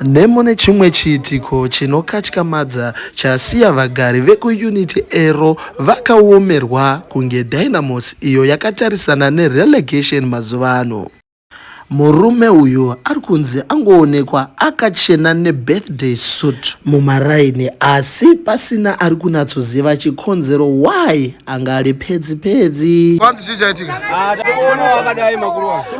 nemune chimwe chiitiko chinokatyamadza chasiya vagari vekuunity ero vakaomerwa kunge dynamos iyo yakatarisana nerelegation mazuva ano murume uyu ari kunzi angoonekwa akachena nebirthday suit mumaraini asi pasina ari kunatsoziva chikonzero why anga ari pedzi pedzi ah,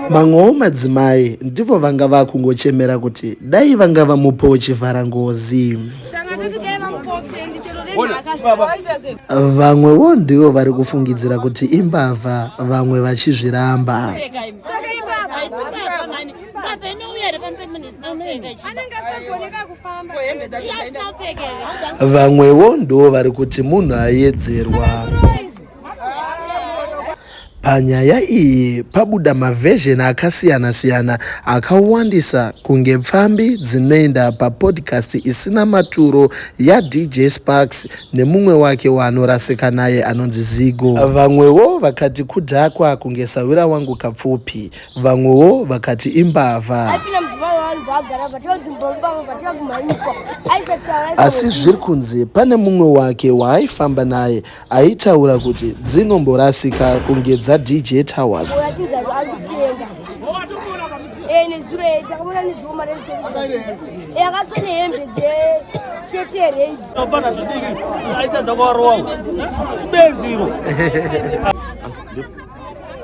mamwewo madzimai ndivo vanga vakungochemera kuti dai vanga vamupawo chivhara ngozi vamwewo ndivo vari kufungidzira kuti imbavha vamwe vachizviramba Ngave inouya here pamberi munhu isina kupfeka chii? Anenge asagoneka kufamba. Ko hembe dzacho Iye asina dzaenda. kupfeka here? vamwewo ndo vari kuti munhu ayedzerwa panyaya iyi pabuda mavhezheni akasiyana-siyana akawandisa kunge pfambi dzinoenda papodcast isina maturo yadj sparks nemumwe wake waanorasika naye anonzi zigo vamwewo vakati kudhakwa kunge sahwira wangu kapfupi Vamwewo vakati imbavha. Asi zviri kunzi pane mumwe wake waaifamba naye aitaura kuti dzinomborasika kunge dzaDJ Towers.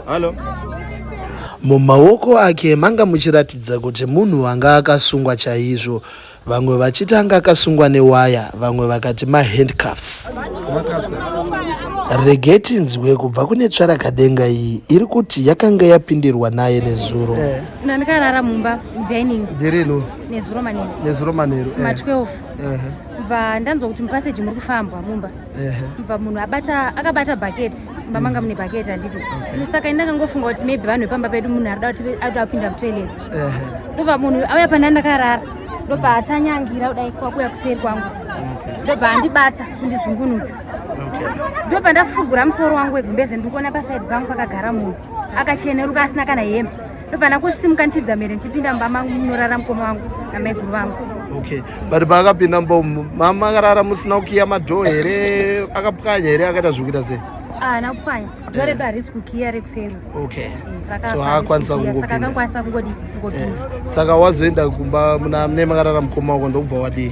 Hello. Mumaoko ake manga muchiratidza kuti munhu anga akasungwa chaizvo. Vamwe vachiti anga akasungwa newaya, vamwe vakati mahandcuffs. Regei tinzwe kubva kune tsvarakadenga iyi iri kuti yakanga yapindirwa naye nezuro. Eh. Ndandikarara mumba dining. Dzirino. Nezuro manheru. Nezuro manheru. Ma 12. Eh. Bva ndanzwa kuti mupaseji muri kufambwa mumba. mva munhu abata akabata bhaketi mumba manga mune bhaketi handiti saka ini ndakangofunga kuti maybe vanhu vepamba pedu munhu arida kuti aida kupinda mutoilet ndobva munhu auya pandai ndakarara ndobva atanyangira kudai kwakuya kuseri kwangu ndobva andibata kundizungunutsa ndobva ndafugura musoro wangu wegumbeze ndikuona pasaidi pangu pakagara munhu akacheneruka asina kana hembe ndofanira kusimuka ndichidza mhere ndichipinda mumba mangu munorara mukoma wangu namaiguru vangu okay but paakapinda mumba umu mama akarara musina kukiya madhoo here akapwanya here akaita zvekuita sei haana ah, kupwanya dhoo redu harisi kukiya rekuseri okay eh, so haakwanisa kungopindaakakwanisa kungodii eh, saka wazoenda kumba muna mune makarara mukoma wako ndokubva wadii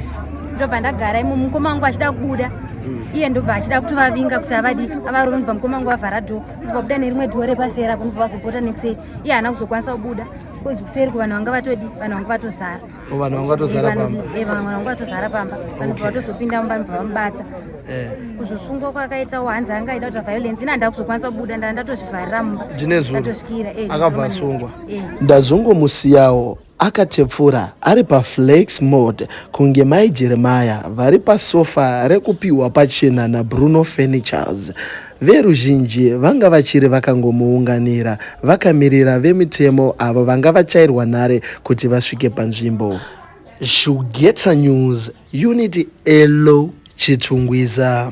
ndobva ndagara imo mukoma wangu achida kubuda mm. iye ndobva achida kutovavinga kuti avadi avarove ndobva mukoma wangu avhara dhoo kubva kuda nerimwe dhiwo repasera kunobva vazopota nekuseri iye haana kuzokwanisa kubuda kozi kuseri ku vanhu vanga vatodi vanhu vanga vatozara oh, vanhu vanga vatozara pamba eh, vanhu vanga vatozara pamba vanhu bva vatozopinda mumba nobva vamubata eh. kuzosungwa kwakaitawo hanzi anga aida kuita violence ini handava kuzokwanisa kubuda ndaa ndatozvivharira mumba ndine zuva akabva asungwa ndazongomusiyawo Akatepfura ari pa flex mode kunge mai Jeremiah vari pa sofa rekupihwa pachena na Bruno Furnitures. Veruzhinji vanga vachiri vakangomuunganira vakamirira vemitemo avo vanga vachairwa nhare kuti vasvike panzvimbo. Shugeta News, Unit Elo Chitungwiza.